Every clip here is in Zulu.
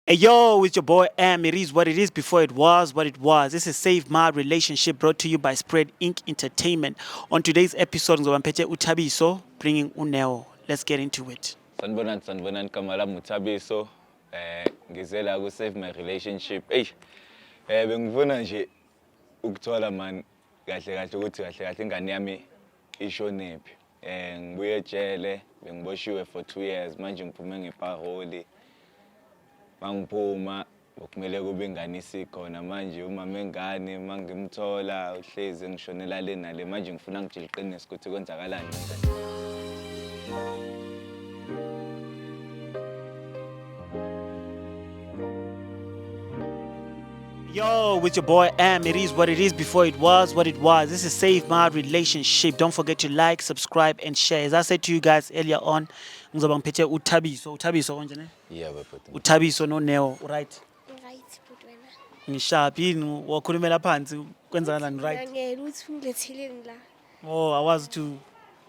Hey yo, it's your boy M. It is what it is before it was what it was. This is Save My Relationship brought to you by Spread Inc. Entertainment. On today's episode, ngizoba ngiphethe uThabiso bringing uNeo. Let's get into it. Sanibonani sanibonani igama lami uThabiso. Eh ngize la ku Save My Relationship. Eish. Eh bengifuna nje ukuthola man kahle kahle ukuthi kahle kahle ingane yami ishonephi. Eh ngibuye ejele bengiboshiwe for 2 years manje ngiphume ngepaholi. Mangiphuma kumele kube ingane isikhona manje umama engane mangimthola uhlezi ngishonela le nale manje ngifuna ngitshele iqiniso ukuthi kwenzakalani ngane. Yo, with your boy M. It is what it is before it was what it was. This is Save My Relationship. Don't forget to like, subscribe, and share. As I said to you guys earlier on, ngizoba ngiphethe uthabiso uthabiso konje ne yeah bhuti uthabiso no neo right right bhuti wena ngishaphi yini wakhulumela phansi kwenzakalani right ngeke uthi ungilethileni la oh awazi ukuthi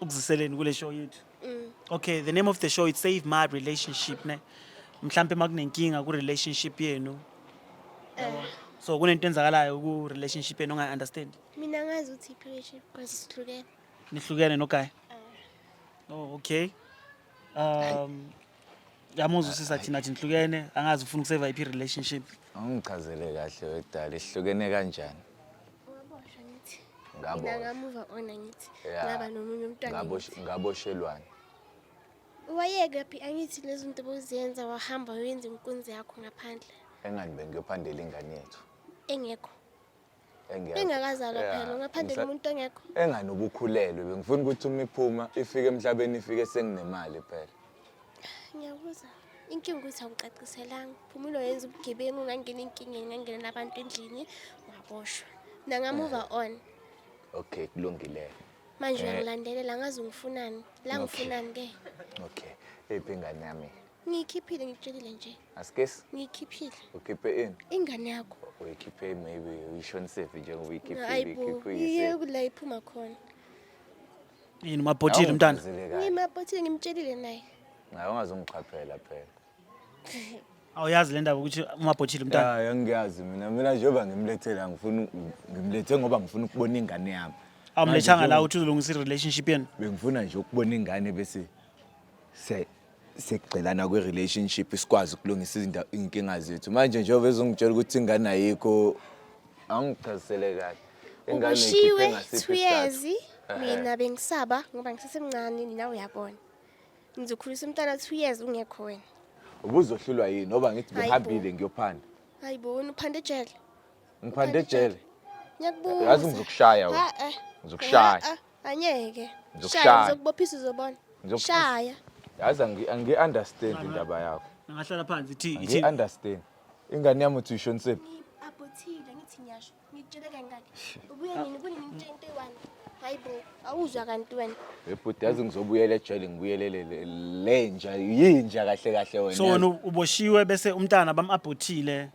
ukuziseleni kule show yethu Mm. Okay, the name of the show is Save My Relationship ne. Mhlambe makunenkinga ku relationship yenu. Eh. So kunento enzakalayo ku relationship yenu ongayi understand. Mina ngazi ukuthi iphi relationship because sihlukene. Nihlukene no guy. Eh. Oh, okay. Um Yamuzwa usisi athini athi nihlukene angazi ufuna ukuseva iphi relationship. Awungichazele kahle wedala ihlukene kanjani? Waboshwa ngithi. Ngabo. Mina ngamuva ona ngithi. Yeah. Ngaba nomunye umntwana. Ngabo ngithi. ngaboshelwani? Wayeke phi angithi lezi zinto boziyenza wahamba wenza inkunzi yakho ngaphandle Engani bengiyophandela ingane yethu. engekho. engekho Ingakazalwa Yeah. phela ngaphandle Ngisa- komuntu ongekho. engani ubukhulelwe bengifuna ukuthi uma iphuma ifike emhlabeni ifike senginemali phela Ngiyabuza. Inkinga ukuthi awucaciselanga. Phumulo yenza ubugebengu ngangena enkingeni ngangena nabantu endlini waboshwa. Mina nga move on. okay kulungileyo Manje Eh. uyangilandelela ngazi ungifunani. La Okay. ngifunani ke. okay iphi ingane yami Ngiyikhiphile ngikutshelile nje. Asikesi? Ngiyikhiphile. Ukhiphe ini? Ingane yakho. Uyikhiphe maybe uyishonisephi njengoba uyikhiphile ikhiphe uyise. Iye kula iphuma khona. Yini mabhotile mntana? Ngimabhotile ngimtshelile naye. Ngayo ungazongiqhaphela phela. Awuyazi le ndaba ukuthi umabhotile mntana? Ya, ngiyazi mina. Mina njengoba ngimlethela ngifuna ngimlethe ngoba ngifuna ukubona ingane yami. Awumlethanga la uthi uzolungisa i-relationship yenu? Bengifuna nje ukubona ingane bese se sekugxilana kwi-relationship sikwazi ukulungisa iy'nkinga zethu manje njengoba ezongitshela ukuthi ingane ayikho angichazisele kahle ingane ikhiphe ngasiphi isizathu mina bengisaba ngoba ngisesemncane nina uyabona ngizokhulisa umntana two years ungekho wena ubuzohlulwa yini ngoba ngithi ngihambile ngiyophanda hayi bona uphanda ejele ngiphanda ejele ngiyakubuza yazi ngizokushaya wena eh. ngizokushaya Anyeke. Ngizokushaya. Shaya ngizokubophisa uzobona. Ngizokubophisa. Shaya. Yazi angi- angi-understand indaba yakho. Angahlala phansi ithi ithi Angi-understand. Ingane yami uthi uyishonisephi? Abhothile ngithi ngiyasho. Ngitshele kangaki. Ubuye nini kunini ngitshe into eyi-one. Hayi bo. Awuzwa kanti wena. Ebhuti yazi ngizobuyela ejele ngibuyelele le- lenja yinja kahle kahle wena. so wena uboshiwe bese umntana bamabhothile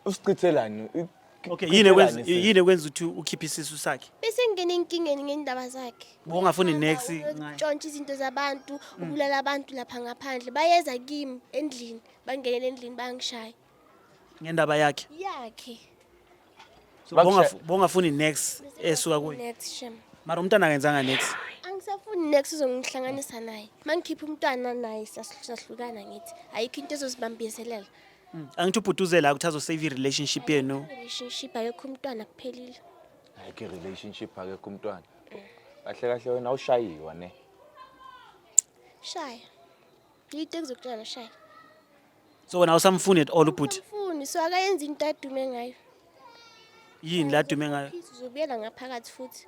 Usichithelani? I- Okay, yini ekwenza Chithelani sisi? yini ekwenza ukuthi ukhiphe isisu sakhe? Bese ngingena enkingeni ngendaba zakhe. Bowungafuni next ngaye. Tshontsha izinto zabantu, ubulala abantu lapha ngaphandle. Bayeza kimi endlini, bangenele endlini bangishaya. Ngendaba yakhe. Yakhe. So, Bakusha- bowungaf- Bowungafuni next esuka kuye. Next shem. Mara umntana akenzanga next. Angisafuni next uzongihlanganisa naye. Mangikhipha umntwana naye siyas- siyahlukana ngithi. Ayikho into ezosibambiselela. angithi ubhuti uze la ukuthi azosave i-relationship yenu relationship ayekho umntwana kuphelile ayikho i-relationship akekho umntwana kahle kahle wena awushayiwa ne shaya yito engizokutshela shaya so wena awusamfuni at all ubhuti mfuni so akayenza into adume ngayo yini la dume ngayo Peace, uzobuyela ngaphakathi futhi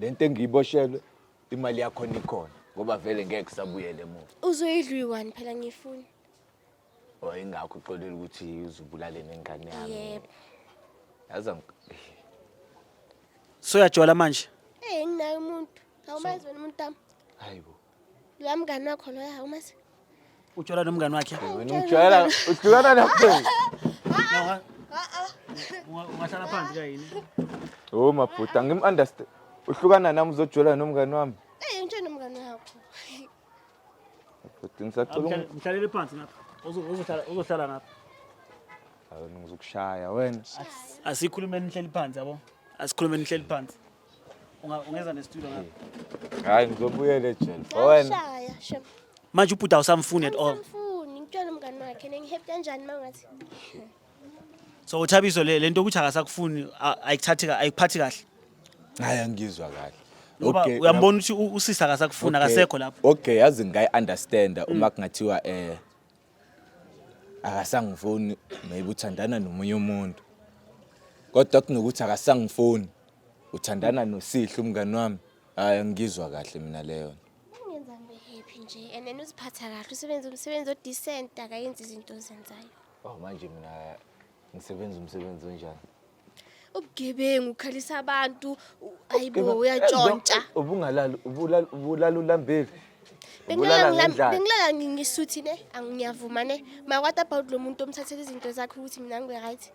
le nto engiyiboshelwe imali yakhona ikhona ngoba vele ngeke kusabuyele emuva uzoyidla uyi-one phela ngiyifuni or ingakho uxolile ukuthi uzubulale nengane yami Yebo. yazi ang- soyajola manje eyi nginaye umuntu awumazi wena umuntu wami hayi bo La mngani wakho loya umazi. Utshwala nomngani wakhe. Wena umjwayela uhlukana nakho. Unga- Ungahlala phansi kayini. Oh mabhuti angim understand. Uhlukana nami uzojwayela nomngani wami. Eh ngitshela umngani wakho. Bhuti ngisacela ungi- Mhlale- Mhlalele phansi ngapha. Uzo- Uzohlala uzohlala ngapha. Hawu, ngizokushaya wena. Asikhulumeni nihleli phansi yabo. Asikhulumeni nihleli phansi. ungeza nestudio ngapha hmm. hayi ngizobuyela ejele owena manje ubhuti awusamfuni at all ngifuni ngitshela umngani wakhe nengihappy kanjani mangathi so uthabiso le lento ukuthi akasakufuni ayikuthathi ayikuphathi kahle hayi angizwa kahle ngoba uyambona ukuthi usisi akasakufuni akasekho lapho okay yazi ngayi understand uma kungathiwa eh akasangifoni maybe uthandana nomunye umuntu kodwa kunokuthi akasangifoni uthandana nosihle umngani wami hayi angizwa kahle mina leyo ungenza ngibe happy nje and then uziphatha kahle usebenza umsebenzi odecent akayenzi izinto ozenzayo oh manje mina ngisebenza umsebenzi onjani ubugebengu ukhalisa abantu ayibo uyantshontsha ubungalali ubulala ulambile bengilala ngisuthi ne angiyavuma ne makwata about lo muntu omthathela izinto zakhe ukuthi mina ngi-right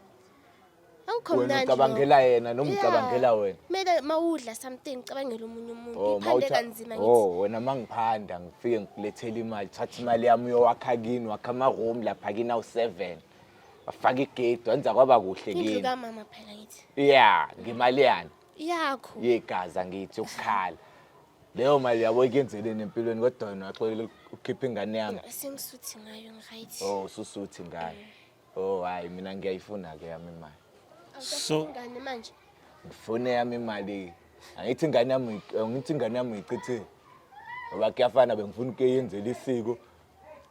awukho mnandi ucabangela yena noma ucabangela wena kumele uma udla something ucabangela omunye umuntu oh, iphande kanzima ngithi oh, wena uma ngiphanda ngifike ngikulethela imali thatha imali yami uyowakha kini wakha ama-room lapha kini awu-seven wafaka igedi wenza kwaba kuhle Indlu kimi kamama phela ngithi. ya ngemali yani Yakho. yegazi angithi ukukhala leyo mali yabo ikenzeleni empilweni kodwa wena waxolela ukhipha ingane yami Sengisuthi ngayo ngiryt. oh ususuthi ngayo oh hayi mina ngiyayifuna-ke yami imali So- Ngane manje. ngifune yami imali angithi ingane yami uyi- angithi ingane yami uyichithile ngoba kuyafana bengifuna ukuyenzela isiko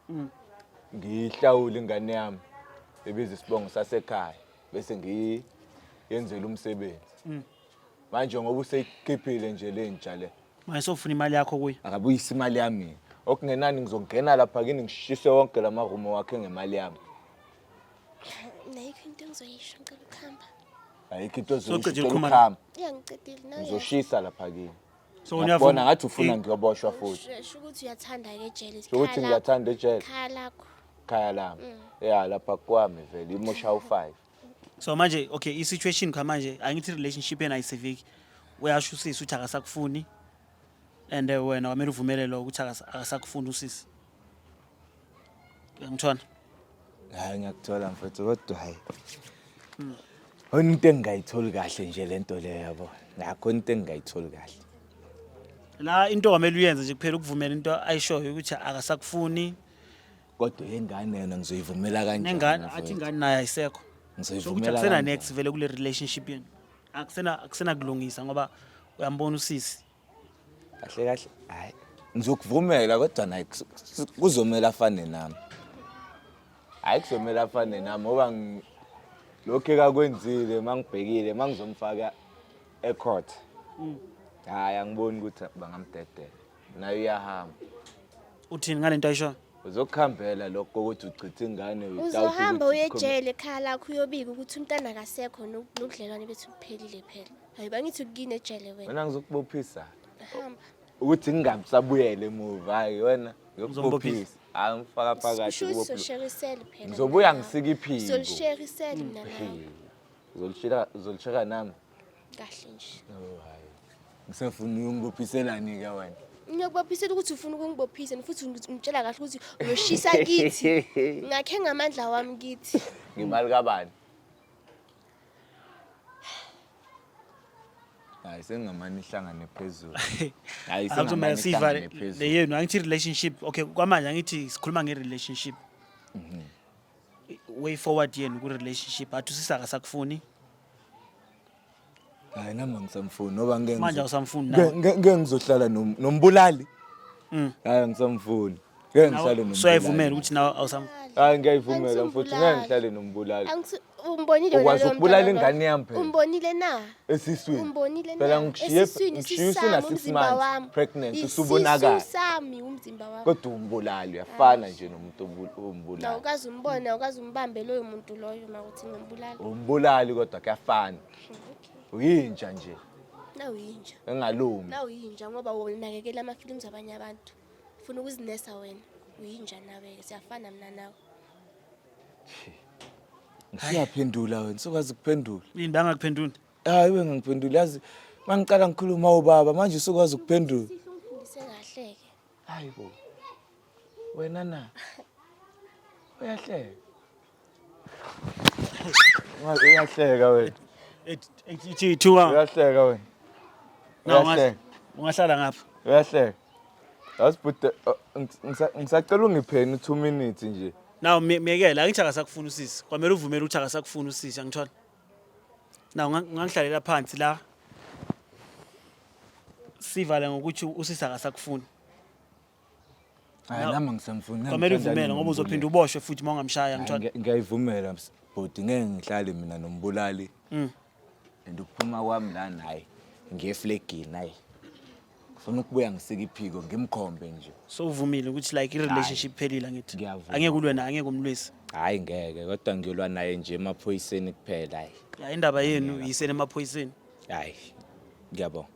Mm. Ngiyihlawule ingane yami ebiza isibongo sasekhaya bese ngiyenzela umsebenzi. Mm. Manje ngoba useyikhiphile nje le nja le. Manje sofuna imali yakho kuyo. Akabuyisa imali yami. Okungenani ngizongena lapha kini ngishise wonke la marumo wakhe ngemali yami. Nayikho into engizoyisho ngicela ukuhamba. Ayikho into Soceda ezoyishela ukukhuluma la. ukuhamba. Ya ngicedile nawe. Ngizoshisa lapha kini. so Ngiyakubona uyavuma ngathi ufuna ngiyoboshwa futhi. Sho ukuthi uyathanda ke jealous. Sho ukuthi ngiyathanda ejele Khaya lakho. khaya lami. Yeah lapha kwami vele imosha u5. so manje okay i-situation kha manje angithi relationship yena ayiseviki uyasho usisi ukuthi akasakufuni and eh, wena kwamele uvumele lo ukuthi akasa- akasakufuni usisi Uyangithola? Hayi ngiyakuthola mfethu kodwa hayi. Hmm. Khona into engingayitholi kahle nje lento leyo yabo. Nakho into engingayitholi kahle. La into kwamele uyenze nje kuphela ukuvumela into ayishoyo ukuthi akasakufuni. Kodwa yengane yona ngizoyivumela kanjani? Nengane athi ingane naye ayisekho. Ngizoyivumela. Akusena next vele kule relationship yenu. Akusena akusena kulungisa ngoba uyambona usisi kahle kahle hayi ngizokuvumela kodwa naye kuzomela afane nami hayi kuzomela afane nami ngoba lokhu ekakwenzile uma ngibhekile uma ngizomfaka ecourt mm. hayi angiboni ukuthi bangamdedela naye uyahamba uthini ngale nto ayishoyo uzokuhambela lokho kokuthi uchithe ingane uzohamba uye ejele ekhaya lakho uyobika ukuthi umntana akasekho nobudlelwane bethu buphelile phela Hayi bangithi ukuyini ejele wena. Wena ngizokubophisa. Hamba. Ukuthi ngingabusabuyele emuva hayi wena ngiyokubophisa. Hayi ngifaka phakathi Sisho ukuthi kubophisa. sosherisele phela. Ngizobuya mina. ngisike iphiko. Solisherisele mina nawe. Uzolishela uzolishela nami. Kahle nje. Oh hayi. Ngisafuna uyongibophiselani ke wena. Ngiyakubophisela ukuthi ufuna ukungibophisa and futhi ungi- ungitshela kahle ukuthi uyoshisa kithi. Ngakhe ngamandla wami kithi. Ngemali kabani? hayi sengingamane ihlangane phezulu hayi Athi sengingamane kumele siyivale ihlangane phezulu leyenu angithi relationship okay kwamanje angithi sikhuluma nge-relationship Mhm. way forward yenu kwi-relationship athi usisi akasakufuni hayi nami angisamfuni ngoba ngeke manje ngizo- awusamfuni ngeke- nawe ngeke- ngeke ngizohlala nom- nombulali Mm. hayi angisamfuni Ngeke ngihlale nombulali. Soyayivumela ukuthi nawe awusam Hayi ngiyayivumela mfowethu ngeke ngihlale nombulali. Angisi- umbonile wena Ukwazi lowo ukubulala mntwana ingane yami phela. umbonile na Esiswini. umbonile Phela na ngikushiye Esiswini, ngikushiye isisu usuna sami, six umzimba months wami. pregnant Isisu usubonakala. sami umzimba wami Kodwa umbulali uyafana nje nomuntu obu- na ombulali. ukazi umbona ukazi umbambe loyo muntu loyo makuthi ngimbulala Umbulali kodwa kuyafana. Uyinja nje nawuyinja engalungi. nawuyinja ngoba wonakekela ama-films abanye abantu funa ukuzinesa wena uyinja nawe siyafana mina nawe ngiyaphendula wena sokwazi kuphendula yini bangakuphendula hayi we ngangiphendula yazi mangiqala ngikhuluma ubaba manje usukwazi ukuphendula ufundise kahle-ke hayi bo wena na uyahleka Uyahleka wena. Ethi ithuka. Uyahleka wena. Uyahleka. Ungahlala ngapha. Uyahleka. Yasibhude ngisacela ungipheni 2 minutes nje. Naw miyekela angithi akasakufuna usisi. Kwamele uvumele ukuthi akasakufuna usisi angithola. Naw ngangihlalela phansi la. Sivale ngokuthi usisi akasakufuni. Hayi nami ngisemfuna. Kwamele uvumele ngoba uzophinda uboshwe futhi uma ungamshaya ngithanda. Ngiyayivumela bhuti ngeke ngihlale mina nombulali. Mm. And ukuphuma kwami la naye ngiyeflegini naye. Ngifuna ukubuya ngisike iphiko ngimkhombe nje. So uvumile ukuthi like i-relationship phelile ngithi. Ngiyavuma. Angeke ulwe naye angeke umlwise. Hayi ngeke kodwa ngiyolwa naye nje emaphoyiseni kuphela hayi. Ya indaba yenu yisene emaphoyiseni. Hayi. Ngiyabonga.